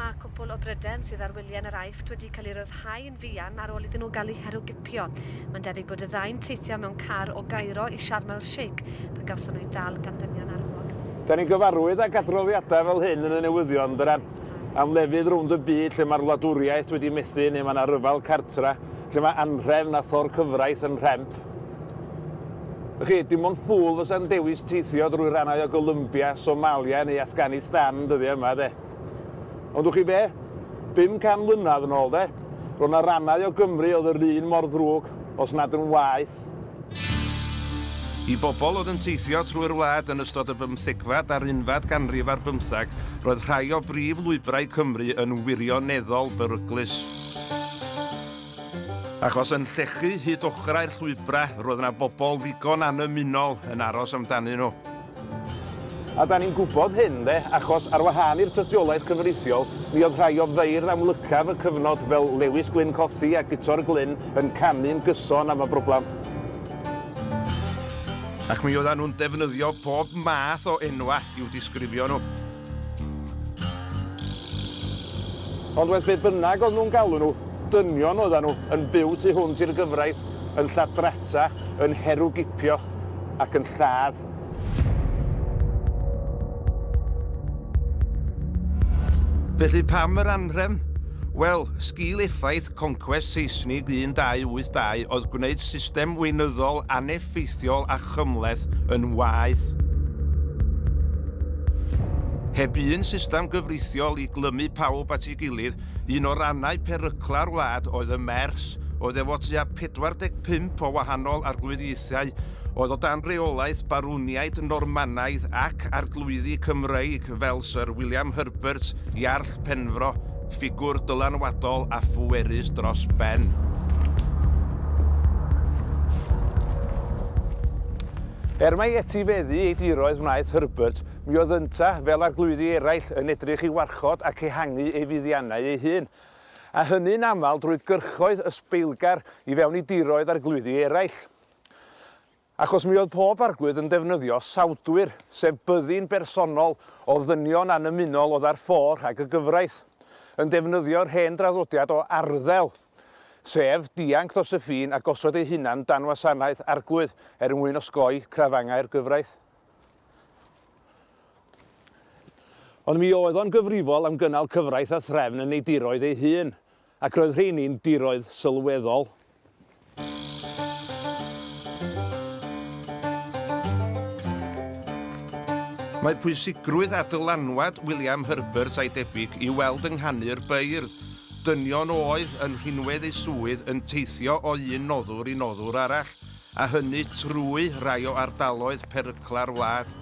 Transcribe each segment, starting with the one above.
Mae cwpwl o bryden sydd ar wyliau yn yr Aifft wedi cael ei ryddhau yn fuan ar ôl iddyn nhw gael eu herwgipio. Mae'n debyg bod y ddau'n teithio mewn car o Gairo i Sharm El Sheikh pan gawson nhw'u dal gan ddynion arfog. Da ni'n gyfarwydd ag adroddiadau fel hyn yn y newyddion, dyna, am lefydd rownd y byd lle mae'r wladwriaeth wedi methu neu mae 'na ryfel cartra, lle mae anhrefn a thor cyfraith yn rhemp. Felly, dim ond ffwl fysa'n dewis teithio drwy rannau o Golumbia, Somalia neu Afghanistan yn dyddiau yma, de. Ond wch chi be? 500 mlynedd yn ôl, de, roedd yna rannau o Gymru oedd yr un mor ddrwg, os nad yn waeth. I bobl oedd yn teithio trwy'r wlad yn ystod y bymthegfad a'r unfad ganrif ar bymtheg, roedd rhai o brif lwybrau Cymru yn wirioneddol beryglus. Achos yn llechu hyd ochrau'r llwybrau, roedd yna bobl ddigon annymunol yn aros amdanyn nhw. A da ni'n gwybod hyn, de, achos ar wahân i'r tystiolaeth cyfreithiol, mi oedd rhai o feirdd amlycaf y cyfnod fel Lewis Glyn Cothi a Guto'r Glyn yn canu'n gyson am y broblem. Ac mi oeddan nhw'n defnyddio pob math o enwau i'w disgrifio nhw. Ond wedd be bynnag oedd nhw'n galw nhw, dynion oeddan nhw, yn byw tu hwnt i'r gyfraith, yn lladrata, yn herwgipio, ac yn lladd. Felly pam yr anrhefn? Wel, sgil effaith Conquest Seisnig 1282 oedd gwneud system weinyddol aneffeithiol a chymhleth yn waeth. Heb un system gyfreithiol i glymu pawb at ei gilydd, un o rannau perycla'r wlad oedd y Mers, oedd efo tua 45 o wahanol arglwyddiaethau oedd o dan reolaeth Barwniaid Normanaidd ac Arglwyddi Cymreig fel Syr William Herbert, Iarll Penfro, ffigwr dylanwadol a phwerus dros ben. Er mai etifeddu ei diroedd wnaeth Herbert, mi oedd yntau, fel arglwyddi eraill, yn edrych i warchod ac ehangu ei fuddiannau ei hun, a hynny'n aml drwy gyrchoedd ysbeilgar i fewn i diroedd arglwyddi eraill. Achos mi oedd pob Arglwydd yn defnyddio sawdwyr, sef byddin bersonol o ddynion annymunol oedd ar ffo rhag y gyfraith, yn defnyddio'r hen draddodiad o arddel, sef dianc dros y ffin a gosod eu hunan dan wasanaeth Arglwydd er mwyn osgoi crafangau'r gyfraith. Ond mi oedd o'n gyfrifol am gynnal cyfraith a threfn yn ei diroedd ei hun, Ac roedd rheini'n diroedd sylweddol. Mae pwysigrwydd a dylanwad William Herbert a'i debyg i'w weld yng nghanu'r beirdd. Dynion oedd yn rhinwedd eu swydd yn teithio o un noddwr i noddwr arall, a hynny trwy rai o ardaloedd perygla'r wlad.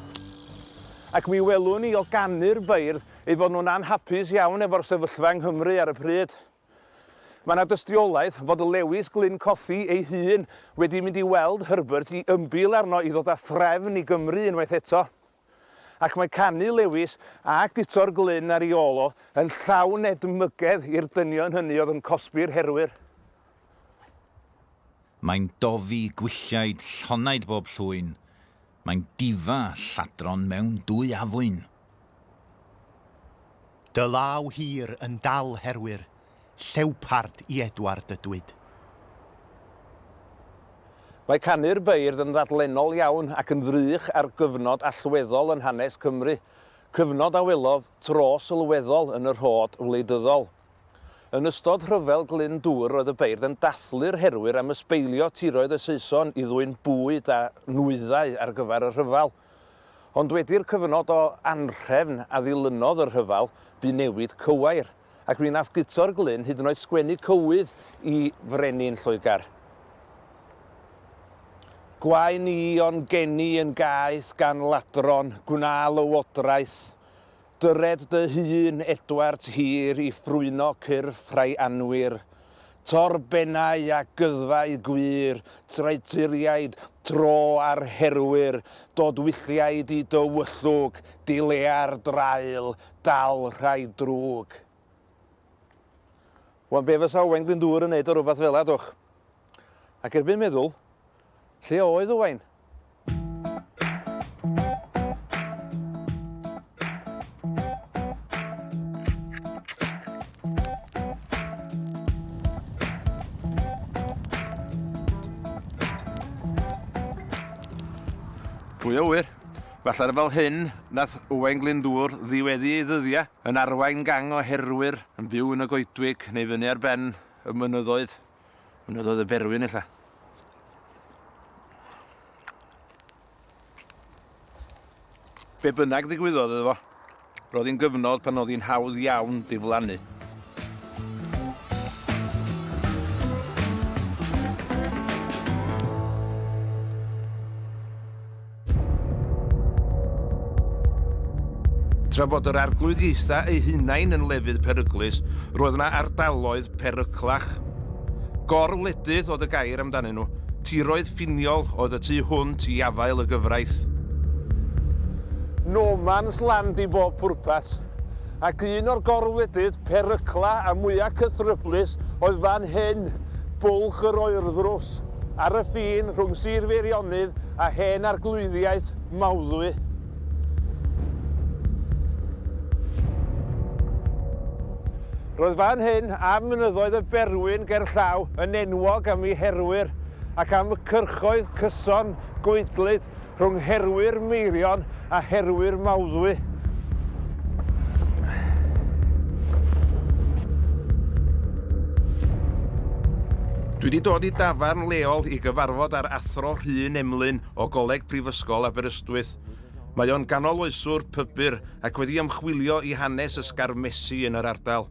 Ac mi welwn ni o ganu'r beirdd eu bod nhw'n anhapus iawn efo'r sefyllfa yng Nghymru ar y pryd. Mae yna dystiolaeth fod Lewis Glyn Cothi ei hun wedi mynd i weld Herbert i ymbil arno i ddod â threfn i Gymru unwaith eto. Ac mae canu Lewis a guto'r Glyn ar ei ôl o yn llawn edmygedd i'r dynion hynny oedd yn cosbi'r herwyr. Mae'n dofi gwylliaid llonaid bob llwyn, Mae'n difa lladron mewn dwy afwyn. Dy law hir yn dal herwyr llewpard i Edward y Dwyd. Mae canu'r beirdd yn ddadlennol iawn ac yn ddrych ar gyfnod allweddol yn hanes Cymru, cyfnod a welodd tro sylweddol yn y rhod wleidyddol. Yn ystod Rhyfel Glyn Dŵr roedd y beirdd yn dathlu'r herwyr am ysbeilio tiroedd y Saeson i ddwyn bwyd a nwyddau ar gyfer y rhyfel. Ond wedi'r cyfnod o anhrefn a ddilynodd y rhyfel, bu newid cywair, ac mi wnaeth Guto'r Glyn hyd yn oed sgwennu cywydd i frenin Lloegr. Gwaen i o'n geni yn gaeth gan ladron, gwna lywodraeth, Dyred dy hun, Edward Hir, i ffrwyno cyrff rhai anwir. Tor bennau a gyddfau gwir, traeturiaid, tro ar herwyr, dod wylliaid i dy wyllwg, dilea'r draul, dal rhai drwg. Wan be fysa Owain Glyndŵr yn neud o rwbath fela dwch? Ac erbyn meddwl, Lle oedd Owain? Pwy o wir? Falle fel hyn, nath Owain Glyndŵr ddiweddu ei ddyddiau yn arwain gang o herwyr yn byw yn y goedwig neu fyny ar ben y mynyddoedd. Mynyddoedd y Berwyn ella. Be bynnag ddigwyddodd iddo fo, roedd hi'n gyfnod pan oedd hi'n hawdd iawn diflannu. Tra bod yr Arglwydd Ieitha ei hunain yn lefydd peryglus, roedd yna ardaloedd peryglach. Gor-wledydd oedd y gair amdanyn nhw. Tiroedd ffiniol oedd y tu hwnt i afael y gyfraith. No man's land i bob pwrpas. Ac un o'r gor-wledydd perygla a mwya cythryblus oedd fan hyn, Bwlch yr Oerddrws. ar y ffin rhwng Sir Feirionnydd a Hen Arglwyddiaeth Mawddwy. Roedd fan hyn a mynyddoedd y Berwyn gerllaw yn enwog am ei herwyr ac am y cyrchoedd cyson, goedlyd Rhwng herwyr Meirion a herwyr Mawddwy. Dwi wedi dod i dafarn leol i gyfarfod â'r Athro Rhun Emlyn o Goleg Prifysgol Aberystwyth. Mae o'n ganoloeswr pybyr ac wedi ymchwilio i hanes ysgarmesi yn yr ardal.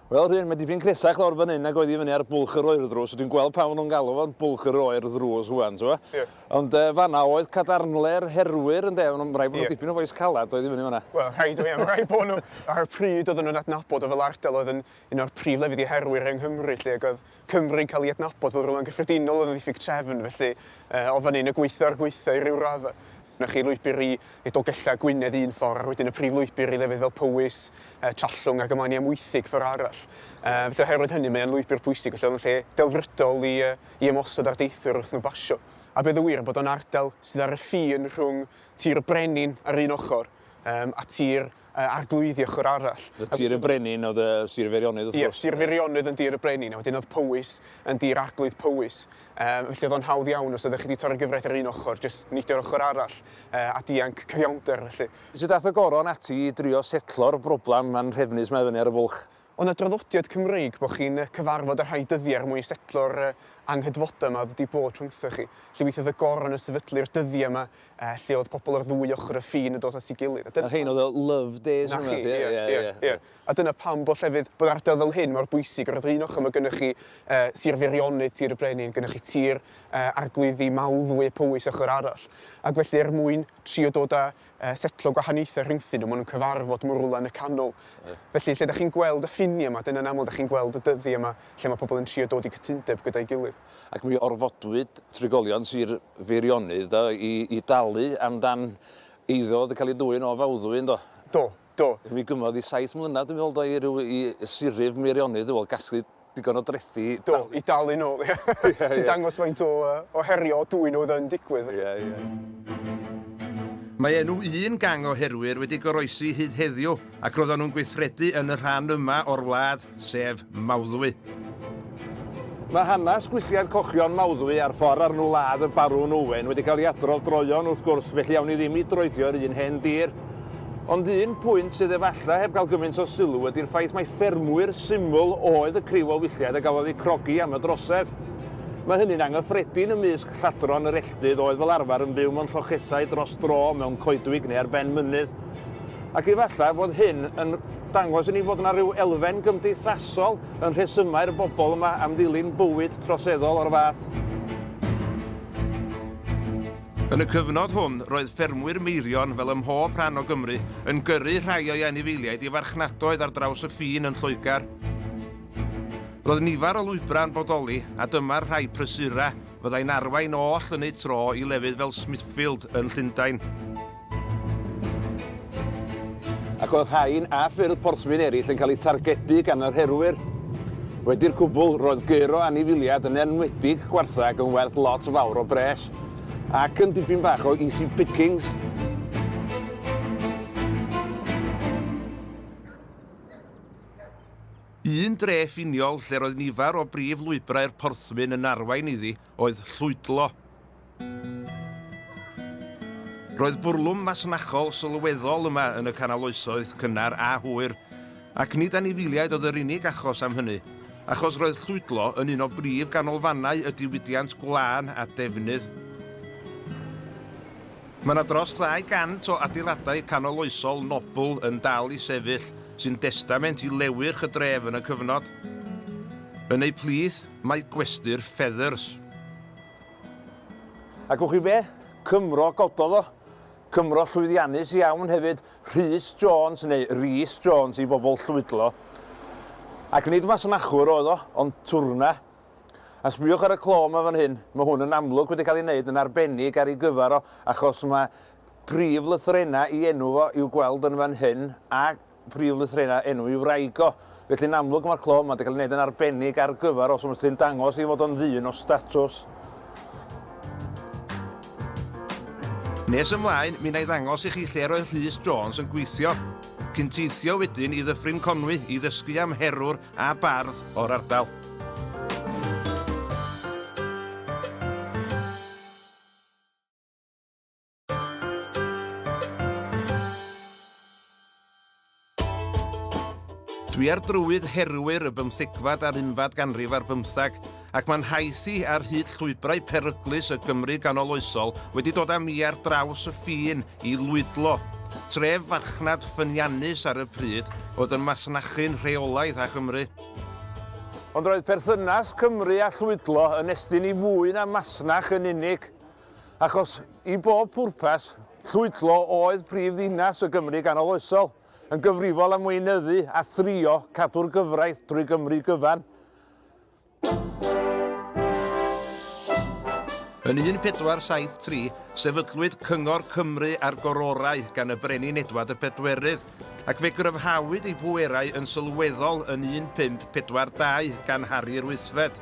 Wel, Rhun, mae dipyn cresach lawr fan hyn nag oedd i fyny ar Bwlch yr Oer ddrws. Dwi'n gweld pam maen nhw'n galw fo'n Bwlch yr Oer ddrws wan, ti'n gwybod? Ie. Ond uh, fanna oedd cadarnle'r herwyr, yn de, rhaid bod nhw yeah. dipyn o boes calad oedd i fyny fanna. Wel, rhaid o iawn, rhaid bod nhw. Ar y pryd oedden nhw'n adnabod o fel ardal oedd yn un o'r prif lefydd i herwyr yng Nghymru, lle ac oedd Cymru yn cael ei adnabod fel rhywle'n gyffredinol o ddiffyg trefn, felly o fan hyn y gweithio a'r gweithio i ryw raddau. Mae chi lwybr i i Dolgellau Gwynedd un ffordd, ac wedyn y prif lwybr i lefydd fel Powys, Trallwng ac ymlaen i Amwythig ffordd arall. Felly oherwydd hynny mae o'n lwybr pwysig, felly oedd o'n lle delfrydol i i ymosod ar deithwyr wrth nhw basio. A bydd y wir bod o'n ardal sydd ar y ffin rhwng Tir y Brenin ar un ochr a Tir y Arglwyddi ochr arall. Yn Sir y Brenin oedd y Sir y Feirionnydd wrth gwrs. Ie, Sir y Feirionnydd yn Dir y Brenin, a wedyn oedd Powys yn Dir Arglwydd Powys. Um, felly oedd o'n hawdd iawn os ydych chi wedi torri gyfraith ar un ochr, jyst neidio ochr arall uh, a dianc cyfiawnder felly. Sut ath y goron ati i drio setlo'r broblem anrhefnus mae fyny ar y bwlch? O na draddodiad Cymreig bo chi'n cyfarfod y rhai dyddiau er mwyn setlo'r anghydfodau yma oedd wedi bod rhwngthoch chi. Felly weithiau oedd y goron yn sefydlu'r dyddiau yma lle oedd pobl ar ddwy ochr y ffin yn dod at ei gilydd. A rhein oedd y love days yma? 'Na chi, ie, ie, ie. A dyna pam bod llefydd, bod ardal fel hyn mor bwysig. Ar yr un ochr mae gennych chi Sir Feirionnydd, Tir y Brenin, gennych chi Tir Arglwyddi, Mawddwy a Powys ochr arall. Ac felly er mwyn trio dod â setlo gwahaniaethau rhyngddyn nhw, maen nhw'n cyfarfod mor rywle yn y canol. Felly, lle da chi'n gweld y ffiniau yma, dyna'n aml da chi'n gweld y dyddiau yma lle mae pobl yn trio dod i gytundeb gyda'i gilydd. Ac mi orfodwyd trigolion Sir Feirionnydd do, i dalu amdan eiddo oedd yn cael ei dwyn o Fawddwy, yn do? Do. Do. Mi gymodd i saith mlynedd dwi'n meddwl do i ryw i siryf Meirionnydd dwi'n meddwl gasglu digon o drethi i dalu. Do, i dalu nôl ie. Sy'n dangos faint o yy o herio o dwyn oedd yn digwydd. Ie ie. Mae enw un gang o herwyr wedi goroesi hyd heddiw ac roeddan nhw'n gweithredu yn y rhan yma o'r wlad. sef Mawddwy. Mae hanes gwylltiau'r cochion Mawddwy a'r ffordd ar nhw ladd y Barwn Owen wedi cael ei adrodd droeon wrth gwrs, felly awn ni ddim i droedio'r un hen dir. Ond un pwynt sydd efallai heb gael gymaint o sylw ydy'r ffaith mai ffermwyr syml oedd y criw o wylliaid a gafodd eu crogi am y drosedd. Mae hynny'n anghyffredin ymysg lladron yr elltydd oedd fel arfer yn byw mewn llochesau dros dro mewn coedwig neu ar ben mynydd. Ac efallai fod hyn yn dangos i ni fod yna ryw elfen gymdeithasol yn rhesymau'r bobl yma am ddilyn bywyd troseddol o'r fath. Yn y cyfnod hwn, roedd ffermwyr Meirion, fel ym mhob rhan o Gymru, yn gyrru rhai o'i anifeiliaid i farchnadoedd ar draws y ffin yn Lloegr. Roedd nifer o lwybrau yn bodoli, a dyma'r rhai prysurau fyddai'n arwain oll yn eu tro i lefydd fel Smithfield yn Llundain. Ac oedd rhain a ffyrdd porthwyn eraill yn cael eu targedu gan yr herwyr? Wedi'r cwbl, roedd gyrr o anifiliad, yn enwedig gwartheg, yn werth lot fawr o bres, ac yn dipyn bach o easy pickings. Un dre ffiniol lle roedd nifer o brif lwybrau'r porthwyn yn arwain iddi, oedd llwydlo. Roedd bwrlwm masnachol sylweddol yma yn y Canol Oesoedd cynnar a hwyr, ac nid anifiliaid oedd yr unig achos am hynny, achos roedd llwydlo yn un o brif ganolfannau y diwydiant gwlân a defnydd. Mae yna dros 200 o adeiladau canol oesol nobl yn dal i sefyll, sy'n destament i lewyrch y dref yn y cyfnod. Yn eu plith, Mae gwesty'r feathers. A gwch chi be? Cymro gododd o. Cymro llwyddiannus iawn hefyd, Rhys Jones, neu Rees Jones i bobl Llwydlo. Ac nid masnachwr oedd o, ond twrna. A sbiwch ar y clo yma fan hyn, mae hwn yn amlwg wedi cael ei wneud yn arbennig ar ei gyfer o, achos mae prif lythrennau i enw fo i'w gweld yn fan hyn, a prif lythrennau enw i wraig o. Felly, yn amlwg, mae'r clo yma wedi cael ei wneud yn arbennig ar gyfer os yw'r tŷ'n dangos ei fod o'n ddyn o statws. Nes ymlaen, mi wna i ddangos i chi lle roedd Rhys Jones yn gweithio, cyn teithio wedyn i Ddyffryn Conwy i ddysgu am herwr a bardd o'r ardal. Dwi ar drywydd herwyr y bymthegfad a'r unfad ganrif ar bymthag, ac mae'n hais i ar hyd llwybrau peryglus y Gymru ganoloesol wedi dod â mi ar draws y ffin i lwydlo. Tref farchnad ffyniannus ar y pryd oedd yn masnachu'n rheolaidd â Chymru. Ond roedd perthynas Cymru a Llwydlo yn estyn i fwy na masnach yn unig. Achos, i bob pwrpas, Llwydlo oedd prif ddinas y Gymru ganoloesol, yn gyfrifol am weinyddu a thrio cadw'r gyfraith drwy Gymru gyfan. Yn 1473, sefydlwyd Cyngor Cymru a'r Gororau gan y Brenin Edward y Pedwerydd, ac fe gryfhawyd ei bwerau yn sylweddol yn 1542 gan Harri'r Wythfed.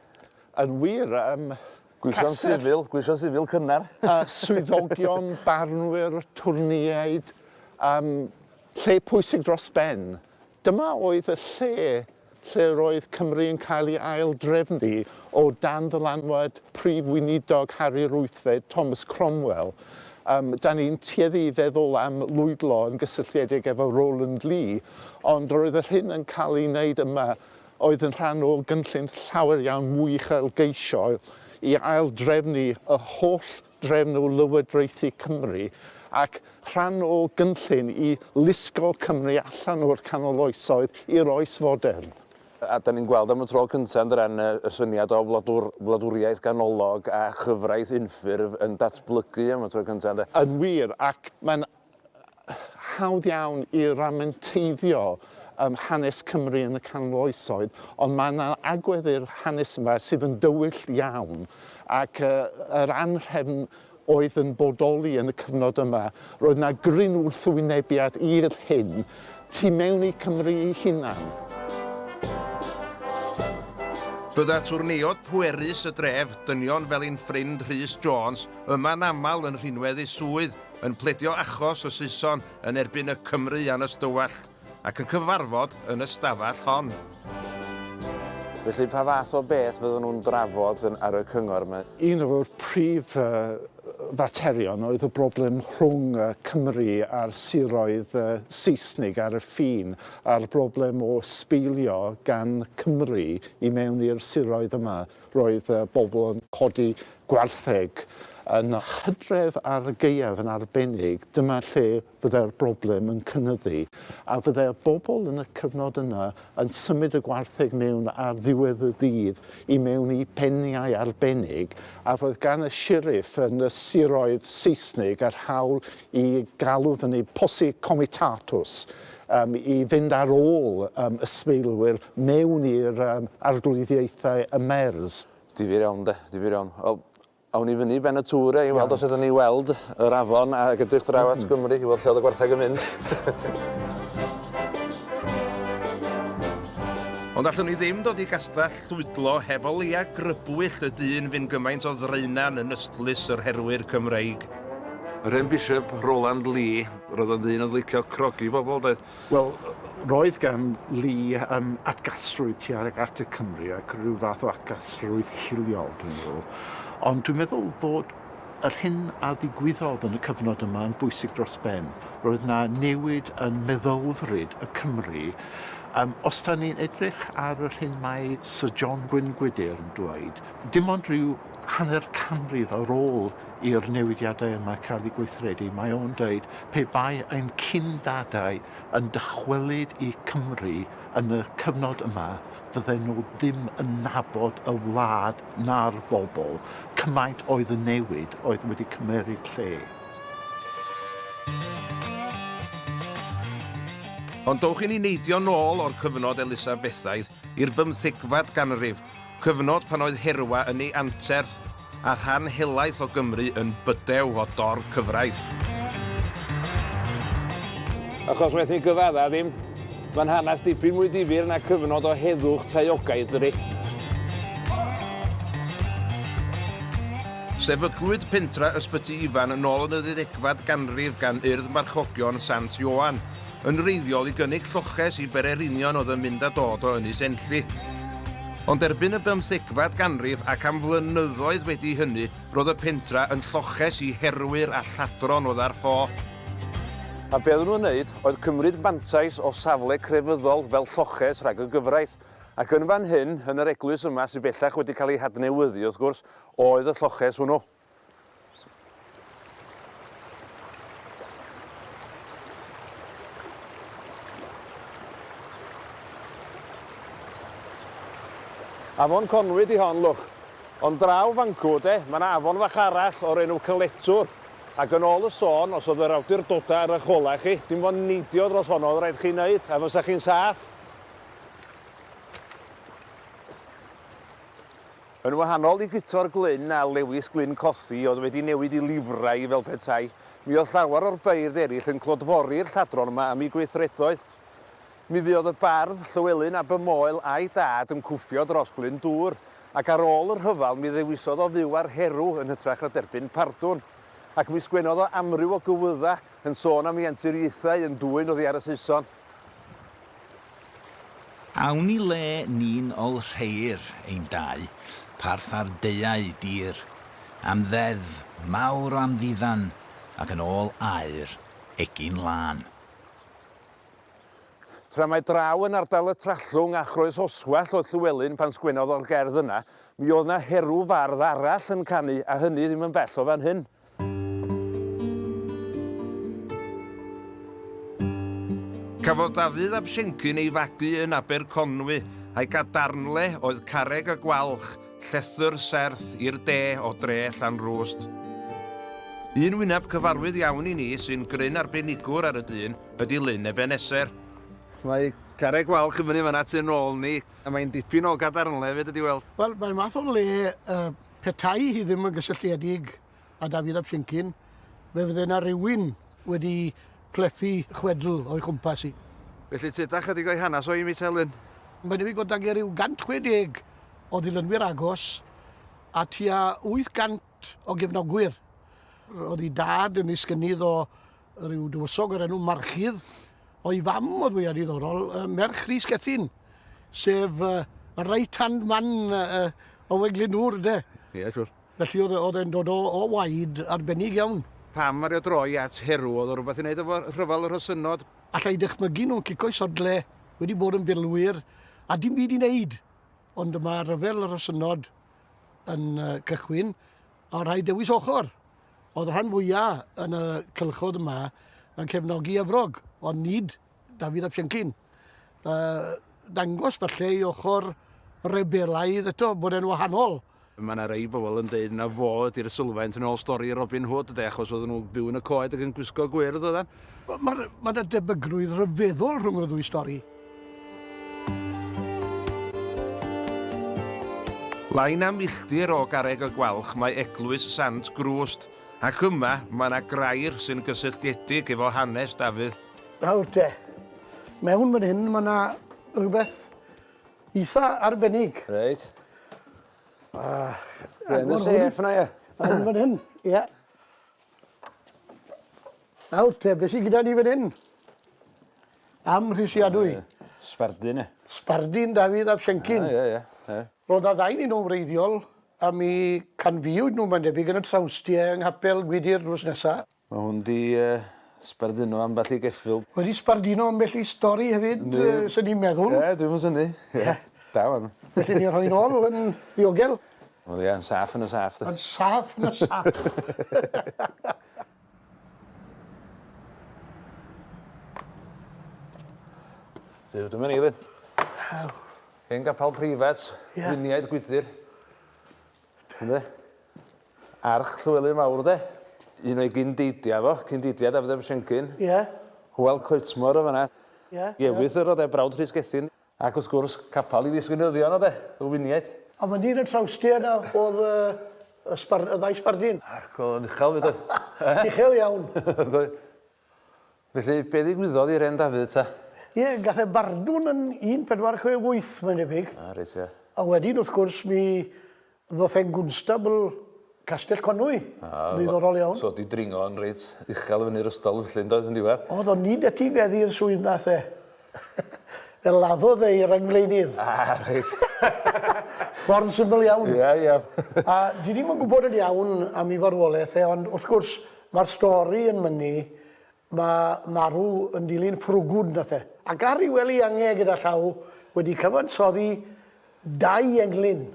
Yn wir, ym Gweithio'n sifil, gweithio'n sifil cynnar. A swyddogion, barnwyr, twrneiaid, ym lle pwysig dros ben. Dyma oedd y lle lle roedd Cymru yn cael ei ail-drefnu o dan ddylanwad Prif Weinidog Harri'r Wythfed, Thomas Cromwell. Ym, da ni'n tueddu i feddwl am lwydlo yn gysylltiedig efo Rowland Lee, ond roedd yr hyn yn cael ei wneud yma oedd yn rhan o gynllun llawer iawn mwy uchelgeisiol i ail-drefnu y holl drefn o lywodraethu Cymru, ac rhan o gynllun i lusgo Cymru allan o'r canol oesoedd i'r oes fodern. A dan ni'n gweld am y tro cyntaf yn Dren y syniad o wladwr, wladwriaeth ganolog a chyfraith unffurf yn datblygu am y tro cyntaf, ynde? Yn wir, ac mae'n hawdd iawn i ramenteiddio um, hanes Cymru yn y canol oesoedd, ond mae yna agwedd i'r hanes yma sydd yn dywyll iawn ac uh, yr anrhefn oedd yn bodoli yn y cyfnod yma. Roedd yna gryn wrthwynebiad i'r hyn tu mewn i Cymru ei hunan. Bydda twrneod pwerus y dref, dynion fel ein ffrind Rhys Jones, yma'n aml yn rhinwedd ei swydd yn pledio achos y Saeson yn erbyn y Cymry yn y Stywallt ac yn cyfarfod yn y stafell hon. Felly pa fath o beth fydden nhw'n drafod yn, ar y cyngor yma? Un o'r prif uh, faterion oedd y broblem rhwng uh, Cymru a'r siroedd uh, Saesnig ar y ffin a'r broblem o sbeilio gan Cymru i mewn i'r siroedd yma. Roedd y bobl yn codi gwartheg yn y hydref ar y gaeaf yn arbennig, dyma lle fyddai'r broblem yn cynyddu, a fyddai'r bobl yn y cyfnod yna yn symud y gwartheg mewn ar ddiwedd y dydd i mewn i beniau arbennig, a roedd gan y sheriff yn y siroedd Seisnig yr hawl i galw fyny posse comitatus, um, i fynd ar ôl um, ysbeilwyr mewn i'r um, arglwyddiaethau y MERS. Difyr iawn, de, difyr iawn. Wel, awn i fyny ben y tŵr e, i weld os ydyn ni weld yr afon a gydrych draw at Gymru, i weld lle oedd y gwartheg yn mynd. Ond allwn ni ddim dod i gastell llwydlo heb o leia grybwyll y dyn fy'n gymaint o ddraenan yn ystlys yr herwyr Cymreig. Rhen Bishop Roland Lee Roedd o'n ddyn oedd licio crogi pobl, doedd? Wel, roedd gan Lee um, atgasrwydd tuag at y Cymru ac rhyw fath o atgasrwydd hiliol, dwi'n meddwl. Ond dwi'n meddwl fod yr hyn a ddigwyddodd yn y cyfnod yma yn bwysig dros ben. Roedd na newid yn meddylfryd y Cymru. Um, os da ni'n edrych ar yr hyn mae Sir John Gwyn Gwydir yn dweud, dim ond rhyw hanner canrif ar ôl i'r newidiadau yma cael eu gweithredu, mae o'n dweud, pe bai ein cyn-dadau yn dychwelyd i Cymru yn y cyfnod yma, fydden nhw ddim yn nabod y wlad na'r bobl, cymaint oedd y newid oedd wedi cymmeryd lle. Ond dowch i ni neidio nôl o'r cyfnod Elisabethaidd i'r bymthegfad ganrif, cyfnod pan oedd Herwa yn ei anterth a rhan helaeth o Gymru yn bydew o dor cyfraith. Achos waeth ni gyfadda ddim, mae'n hanes dipyn mwy difyr na cyfnod o heddwch taeogaidd, dydy. Sefydlwyd pentra Ysbyty Ifan yn ôl yn y ddeuddegfad ganrif gan Urdd Marchogion Sant Ioan, yn wreiddiol i gynnig lloches i bererinion oedd yn mynd a dod o Ynys Enlli. Ond erbyn y bymthegfad ganrif ac am flynyddoedd wedi hynny, roedd y pentra yn lloches i herwyr a lladron oedd ar ffo. A be oedden nhw'n wneud oedd cymryd mantais o safle crefyddol fel lloches rhag y gyfraith. Ac yn fan hyn, yn yr eglwys yma, sydd bellach wedi cael ei hadnewyddu, wrth gwrs, oedd y lloches hwnnw. Afon Conwy 'di hon, lwch. Ond draw fancw, de, mae yna afon fach arall o'r enw Cyletwr. Ac yn ôl y sôn, os oedd yr awdurdodau ar eich holau chi, dim ond neidio dros honno oedd rhaid chi wneud, a fysa chi'n saff. Yn wahanol i Guto'r Glyn a Lewis Glyn Cothi oedd wedi newid i lifrai fel petai, mi oedd llawer o'r beirdd eraill yn clodfori'r lladron yma am eu gweithredoedd. Mi fuodd y bardd Llywelyn ab y Moel a'i dad yn cwffio dros Glyn Dŵr, ac ar ôl y rhyfel mi ddewisodd o fyw ar Herw yn hytrach na derbyn pardwn. Ac mi sgwennodd o amryw o gywyddau yn sôn am ianturiaethau yn dwyn oddi ar y Saeson. Awn i le ni'n ol rheir ein dau parth ar deuau dir am ddeddf mawr o amddiddan ac yn ôl aur egin lân. Tra mai draw yn ardal y Trallwng a Chroesoswallt oedd Llywelyn pan sgwennodd o'r gerdd yna, mi oedd 'na herw fardd arall yn canu a hynny ddim yn bell o fan hyn. Cafodd Dafydd ab Siencyn ei fagu yn Aber Conwy, a'i gadarnle oedd Carreg y Gwalch, llethr serth i'r de o dre Llanrwst. Un wyneb cyfarwydd iawn i ni sy'n gryn arbenigwr ar y dyn ydy Lyn Ebeneser. Mae Carreg Gwalch yn fyny fan'na tu nôl ni, a mae'n dipyn o gadarnle fyd ydi weld. Wel, mae'n math o le yy Petai hi ddim yn gysylltiedig â Dafydd ap Siencyn, fe fydde 'na rywun wedi plethu chwedl o'i chwmpas hi. Felly tyd a chydig o'i hanes o i mi Telyn. Mae'n debyg fod 'da ger ryw 160 o ddilynwyr agos a tua 800 o gefnogwyr. Roedd ei dad yn ddisgynnydd o Rhyw dywysog o'r enw Marchydd, o'i fam oedd fwya diddorol, uh, merch Rhys Gethin, sef uh, y right hand man uh, o Weglin Nŵr, de. Ie, yeah, siwr. Felly oedd, e, oedd e'n dod o, o waid arbennig iawn. Pam ar y droi at herw, oedd o rhywbeth i wneud efo rhyfel yr hysynod? Alla i dychmygu nhw'n cico i sodle, wedi bod yn filwyr, a dim byd i wneud. Ond dyma rhyfel yr hysynod yn uh, cychwyn, A rhaid dewis ochr. Oedd rhan fwya yn y cylchod yma yn cefnogi Efrog, ond nid Dafydd ap Siencyn. Yy dangos falle i ochr rebelaidd eto bod e'n wahanol. Mae yna rei bobl yn deud na fo ydy'r sylfaent yn ôl stori Robin Hood de, achos oedden nhw'n byw yn y coed ac yn gwisgo gwyrdd oedden. Wel, mae yna debygrwydd ryfeddol rhwng y ddwy stori. Lai na milltir o garreg y Gwalch mae eglwys Sant Grwst, ac yma mae yna grair sy'n gysylltiedig efo hanes Dafydd. Nawr te, mewn fan hyn mae yna rhywbeth eitha arbennig. Reit. Ah, Yn y sef yna, ie. Yn fan hyn, ie. Nawr te, be' sy gyda ni fan 'yn? Amhrisiadwy. Ie. Sbardun e. Sbardun Dafydd ap Siencyn. Ie ie ie. Ro'dd 'na ddau 'nyn nw'n wreiddiol a mi canfuwyd nw mae'n debyg yn y trawstie yng nghapel Gwydir drws nesa. Ma' hwn 'di yy sbarduno ambell i geffyl. Wedi sbarduno ambell i stori hefyd yy swn i'n meddwl. Ie dwi'm yn synnu. Ie. Da ŵan. Felly ni rhoi nôl yn ddiogel. O ie yn saff yn y saff 'de? Yn saff yn y saff. Duw dyma ni ŵan. Waw. Hen gapal preifat. Ie. Lluniaid gwydyr. Ynde? Arch Llywelyn Fawr 'de? Un o'i gyn-deidia fo, cyn-deidia Dafydd ap Siencyn. Ie. Hywel Coetmor yn fan 'na. Ie. Iefis yr o'dd e brawd Rhys Gethin. Ac wrth gwrs, capal i ddisweinyddion oedd e, y winiaid. A fan hyn yn trawstie 'na o'dd y y sbar- y ddau sbardun. Ac o'dd o'n uchel 'fyd oedd? Uchel iawn. Ydoedd. Felly, be' ddigwyddodd i 'Ren Dafydd ta? Ie, gath e bardwn yn un pedwar chwe wyth mae'n debyg. A, reit, ie. A wedyn, wrth gwrs, mi Ddoth e'n gwnstabl Castell Conwy. Ddiddorol iawn. So wedi dringo yn reit uchel i fyny'r ystol felly yndoedd yn diwedd? Oedd o'n un etifeddu i'r swydd nath e. Fe laddodd e i rangflaenydd. Ah reit. Ffordd syml iawn. Ie ie. A dwi ddim yn gwybod yn iawn am ei farwolaeth e ond wrth gwrs mae'r stori yn mynnu ma' marw yn dilyn ffrwgwd nath e. Ac ar ei wely angau gyda llaw wedi cyfansoddi Dau englyn.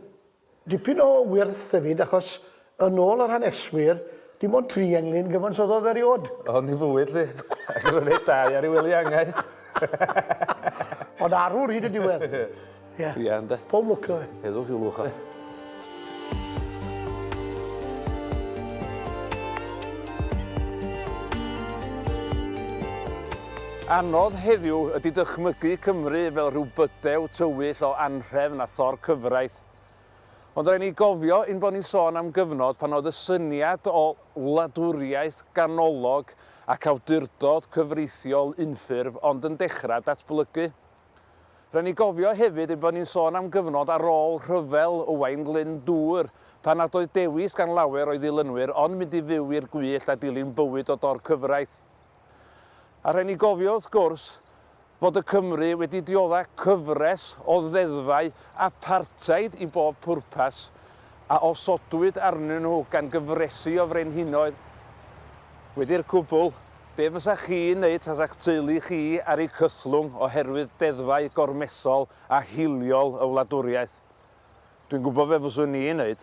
Dipyn o wyrth hefyd achos yn ôl yr haneswyr dim ond tri englyn gyfansoddodd eriôd. Hon i fwyd 'lly. Ac roedd e dau ar ei wely angau. Ond arwr hyd y diwedd. Ie. Ie ynde? Pob lwc 'da fe. Heddwch i'w lwch o. Ie. Anodd heddiw ydy dychmygu Cymru fel rhyw bydew tywyll o anhrefn a thor cyfraith. Ond rhaid ni gofio ein bod ni'n sôn am gyfnod pan oedd y syniad o wladwriaeth ganolog ac awdurdod cyfreithiol unffurf ond yn dechrau datblygu. Rhaid ni gofio hefyd ein bod ni'n sôn am gyfnod ar ôl rhyfel Owain Glyndŵr, pan nad oedd dewis gan lawer o'i ddilynwyr ond mynd i fyw i'r gwyllt a dilyn bywyd o dor-cyfraith. A rhaid ni gofio, wrth gwrs, fod y Cymry wedi diodda' cyfres o ddeddfau apartheid i bob pwrpas, a osodwyd arnyn nhw gan gyfresi o frenhinoedd, wedi'r cwbl, be fysach chi'n wneud tasa'ch teulu chi ar eu cythlwng oherwydd deddfau gormesol a hiliol y wladwriaeth? Dwi'n gwybod be fyswn i'n wneud.